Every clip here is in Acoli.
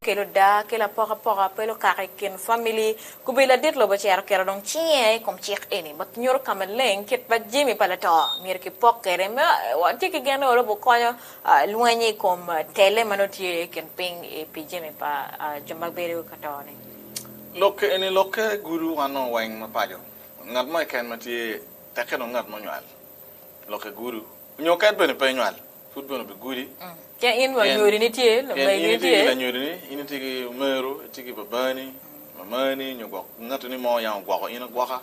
kelo daa ki lapokapoka pe lukaka i kin famili. Kubir ladit lobo ocito oketo dong cinge i kom cik eni ma nyuto ka maleng kit ma jami pa lato myero kipok kwede me watye ki gen ni wa lobo konyo lweny i kom tele ma nongo tye i kin piny pi jami pa jo ma bedo ka to-ni. Lok eni lokke gudo wan nongo weng mapaco, ngat mo keken ma tye, tekke dong ngat munywal, lokke gudo, nyo keken bene pe nywal. Pud bene obigudi. Pien in wa nyodini tye, lamegi ni tye. Pien in itye ki lanyodini, in itye ki omeru, itye ki babani, mamani, nyo gwok ngat ni mo yang ogwoko in agwoka.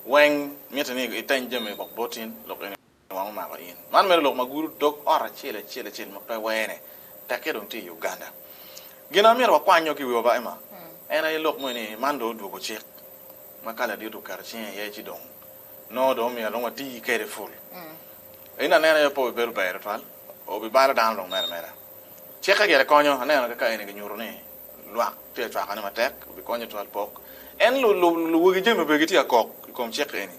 Weng mitte ni iteny jami gwok bot in, lok eni wang omako in. Man mere lok ma gudo dog ot acel acel acel ma pe wene, tekke dong tye i Uganda. Gin amito wakwanyyo ki wiwa ba Emma, en aye lok moni ni man dong odwogo cik ma Kala dit oketo cinge iye ci dong Nongo dong omyero dong wati kede pul. In aneno aye pe obibedo ber tutwal, obibalo dano dong mere meda. Cikke gire konyo, aneno kaka eni kinyuto ni lwak tye ka cwakone matek, obikonyo tutwal pok. En luwagi jami obedo gitye ka kok i kom cik eni.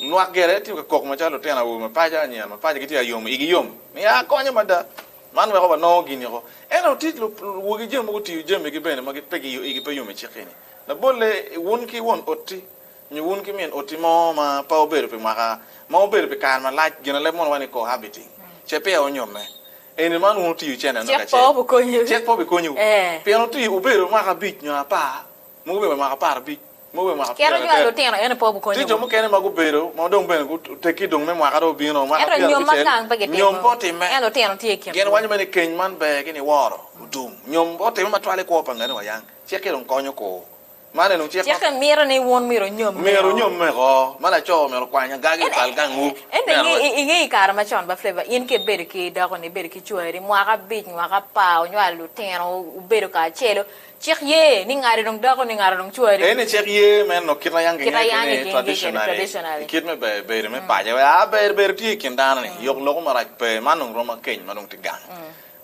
Lwak gire tye ka kok macalo lutino awobe mapaco, anyira mapaco gitye ka yomo, igi yom ni aa akonya mada, man weko wanongo gin niko. Ento tye luwagi jami ma gutiyo jamigi bene ma igi pe yom i cik eni. Labolle, wun ki won oti Nyo wun ki min oti mo ma pe wubedo pi mwaka ma wubedo pi kare malac, ginaleb mono wai ni cohabiting, ce peya wunyomme. Eni man wun wutiyo cente nok acel. Cik pe obikonyiwu. Pien wutiyo, wubedo mwaka abic nyo apar, mogo bene mwaka apar abic, mogo bene mwaka pyero adek. Tye jo mukene ma gubedo ma dong bene guteggi dong me mwaka dong obino, mwaka pyero abicel, nyom pe otimme. Gin waco bene ni keny man ber ki niworo otum. Nyom pe otimme matwal i kwo pa ngani wayang. Cik-ki dong konyo kur. Man en ocik ma mito ni wun myero onyomme-o. Myero onyomme-ko, ma laco myero okwany agagi i kal gangwu. Ento i nge i kare macon ba Flavor, in ki ibedo ki dakoni, ibedo ki cwari mwaka abic, mwaka apar, wunywalo lutino, wubedo kacelu, cik ye ni ngati dong dakoni, ngati dong cwari. Ee, ni cik ye me nongo kit ma yam Kit ma kingeye yam kwede ni kingeye kwede ni traditionally, traditionally. i kit me be- bedo me paco. Aa, ber bedo tye i kin dano-ni, yok loko marac pe. Man dong romo akeny ma dong tye gang.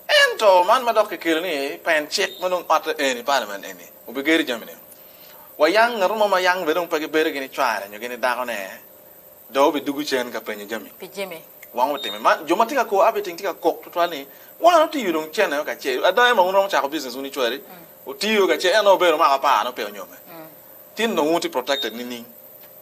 Ento man ma dok kikelo ni pen cik ma dong otte eni, parliament eni, obigedo jami ni, wayang ngato mo ma yang bene dong pe gibedo gini cware nyo gini dako ne do obi dugu cen ka penyo jami pi Jimmy. Wang otime man jo ma tye ka ko abe ting tye ka kok twatwal ni wan otiyo dong cen ayo ka ce ada ema un romo cako business un icwari otiyo ka ce en dong obedo omako apar ne ope onyome tin dong un tye protected nining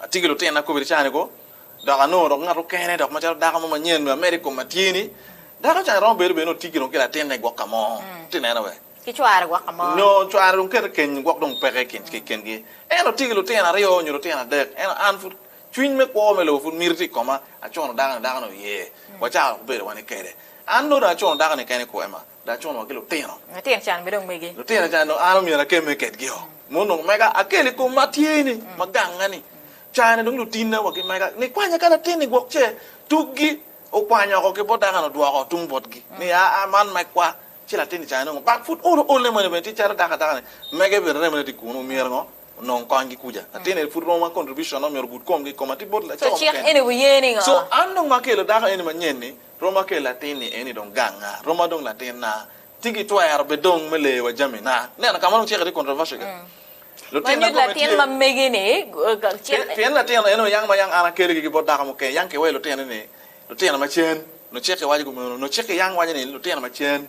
Atye ki lutina kobedi cawa ni ko dok anongo dok ngat mukene dok macalo dako mo manyen me amed i kom atye ni dako cawa ni romo bedo bene ni otye ki latinne gwok ka mo ti neno be ki cware gwok ka mo nyo cware dong kete keny gwok dong peke ki kengi en otye ki lutino aryo nyo lutino adek ento an pud cwiny me kwo me lobo pud miti ti i koma acono dako ni dako ni oye wacako dok bedo wa ni kede an nongo dong acono dako ni kene kwo ema Lacuno wa ki lutino. Latin can mi dong megi. Lutino can dong an omyero akemme kedgio. Mo onongo mega akel i kom ma tye ni, ma gange ni. Caa-ni dong lutinna wa ki mega ni kwanya ka latin-ni gwok ce tukgi okwanya oko ki bot daka-ni odwoko tung botgi ni aa man megwa. Ci latin-ni caa-ni nongo bak pud olo olne moni bene tye calo daka daka-ni mege bene remo ne tye kunu omyero ngo? Onong konygi kuca. Latin-ni pud romo ma contribution-ne omyero ogud komgi i koma tye bot laco mukene. So an dong ma akelo dako eni manyen-ni. Roma kel latinni eni dong ganga. Roma dong latinna. Ci gitwero bed dong me leyowa jamina. Ineno ka ma dong cik tye controversial kit. Ma Lutinna nyut kome latin tye. ma megi-ni, eh, ka- Pi- cik- Pien latin eno yang ma yang an akeligi ki bot dako mukene, yang kiweyo lutino-ni, lutino macen. Nongo cik waco kumeno. Nongo cik yang waco ni lutino macen.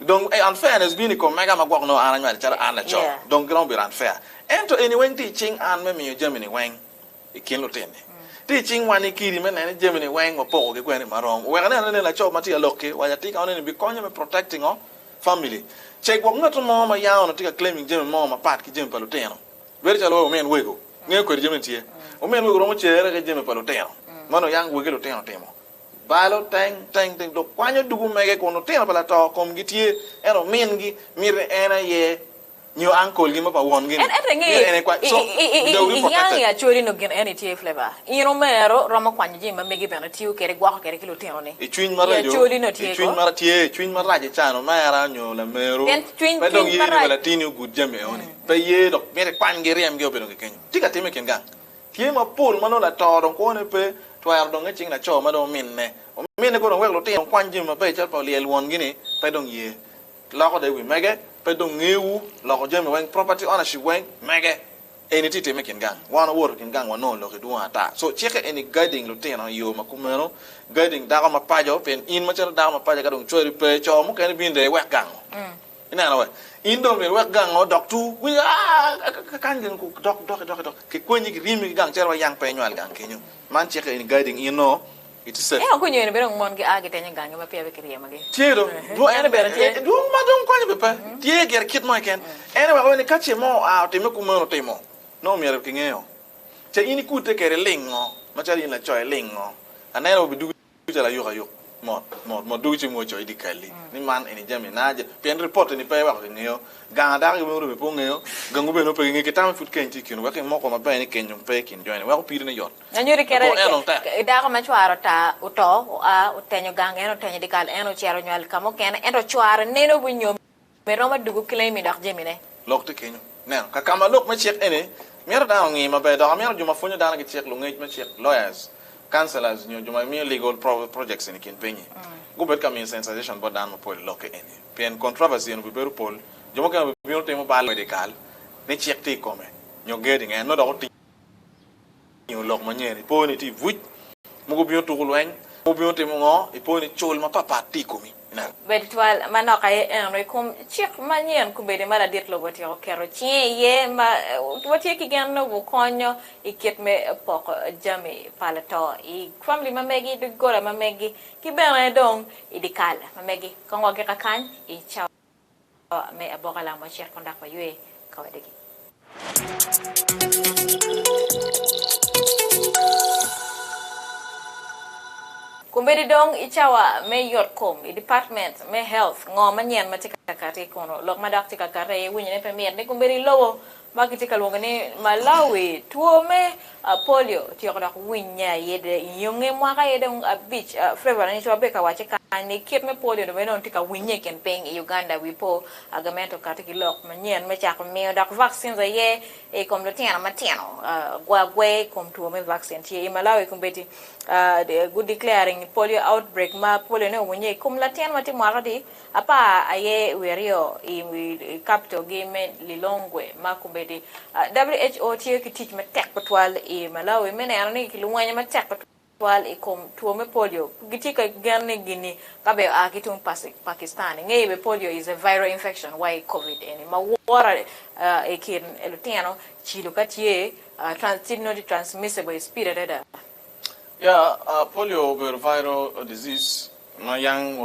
Dong ei unfairness bino i kom mega ma gwok nongo an anywalo calo an laco, dong giromo bedo unfair. Ento eni weng tye i cing an me miyo jami-ni weng i kin lutinni. Tye i cing wan-ni kidi me neno ni jami-ni weng wapokogi kwene ma rom. Wek aneno ni nen laco ma tye alok-ki, wa atika wano ni bikonyo me protect ngo? Family. Ce gwok ngat mo ma yam onongo tye ka claiming jami mo mapat ki jami pa lutino. Bedo calo wa omin wego. Ngeyo kwede jami-ni tye. Omin wego romo cere ki jami pa lutino ma nongo yang wegi lutino otimo. Balo teng teng teng dok kwanyo duk omege kun lutino pa lato komgi tye, ento mingi miti en aye nyo uncle gi ma pa wongi ni, myero en ekwa so without reprocessed. I yang i Acholi nongo gin eni i tye flavor. In omero romo kwanyo jami ma megi bene tiyo kede gwoko kede ki lutino ni. I cwiny ma reco, i cwiny ma tye, i cwiny ma rac icano omera nyo lameru pe dong ye ni wa latini ogud jami eoni. Pe ye dok miti kwanygi iryemgi obe dong kikenyo. Tye ka time i kin gang. Tye mapol ma nongo lato dong kwone pe twero donge cing laco ma dong ominne. Ominne kono wek lutino okwany jami maber calo pa olyel wongi-ni, pe dong ye. Loko dong i wi mege, pe dong ngewu, loko jami weng, property ownership weng, mege. Eni tye tim me kin gang. Wan wawoto i kin gang wanongo lok-ki dwong ata. So, cikke eni guiding lutino i yo ma kumeno, guiding dako mapaco, pien in macalo dako mapaco ka dong cwari pe, co mukene binde iwek gango. Ineno wee? In dong myero iwek gang-nge odok tur. Winyo, aa, kakany gin ku dok, doki, doki, doki. Kikwenyi, kiriemi ki gang cere wa yang pe inywal gang kenyo. Man cike in guiding in noo iti safe. Eo kunyo eni bene dong mon gia gitenyo gang-nge ma peya be kiryemogi. Tye dong. Dwong ene bene tye. Dwong ma dong konyo be pe. Tye gire kit mo keken. En eweko wene ka ce mo oa otime ku meno otimo, nongo myero kingeyo. Ce in ikute kede lingo, macalo in laco ilingo. Aneno wa bidugi. Cal ayuka-yuk, mot, mot, mot dugo ci wungo coyo idye kal-li ni man eni jami na aje, pien ripot eni pe iweko kingeyo, gang a dako ki weng oribbe pe ongeyo, gangu bene ope kingeyo, kitamo pud keny tye ikinwu, wek imoko maber ni keny dong pe ikin joni, wek opiri ne yot. Nyo ni kite Labongo en dong tek. dako ma cware ota, oto, oa, otenyo gang, en otenyo dye kal, en ocito onywal ka mukene, ento cware neno obinyomme. Pe romo adwogo ki laimi dok jamine. Lok tye kenyo. Neno ka kama lok me cik eni mito dano ongi maber dok amito jo ma pwonyo dano ki cik, lungec me cik, lawyers, counselors nyo jo ma miyo legal projects eni i kin pinyi gubed ka miyo sensation bot dano mapol i lokke eni pien controversy eni obibedo pol. Jo mukene obibino timo bal medikal ni cik tye i kome nyo gedo i ngeye nongo dok otiyo. Omiyo lok manyen, ipo ni tye i buc ma gubino tuko lweny, gubino timo ngo, ipo ni cul mapat pat tye i komi. Bed twal manok aye eno i kom cik manyen kubedi ma ladit lobo otyeko keto cinge iye ma watye ki gen ni obukonyo i kit me poko jami pa lato i famili ma megi, doggola ma megi, ki bene dong i dikal ma megi. Kongo gi kakany i cawa. me aboka lam wacit kun dok waywe ka wadegi. Kombeddi dong i cawa me yot kom i department me health ngo manyen ma tye ka kati kunu lok madok tye ka kati aye winyo ni pe mit ni kombeddi lobo ma kitye ka lwongo ni Malawi, two me polio otyeko dok winye aye de nyonge mwaka aye dong abic. Flavor Anyico ma be ka wacce kany ni kit me polio ni bene dong tye ka winye i kin piny i Uganda wi po agamento kati ki lok manyen me cako miyo dok vaccines aye i kom lutino matino. Gwa gwe i kom two me vaccine tye i Malawi kombeddi gu declaring polio outbreak ma polio ne owinye i kom latin ma tye mwaka adi Apar aye wi aryo i wi kapito gi me Lilongwe ma Kubedi. WHO tiyo ki tic matek tutwal i Malawi me neno ni kilwonyo matek tutwal i kom two me polio. Gitye ka gen ni gini ka be oa ki tung Pakistan. Ingeyo be polio is a viral infection wa i Covid eni ma woro i kin lutino cilo ka tye tye nongo tye transmissible i speed adada. Yeah, polio obedo viral disease ma young.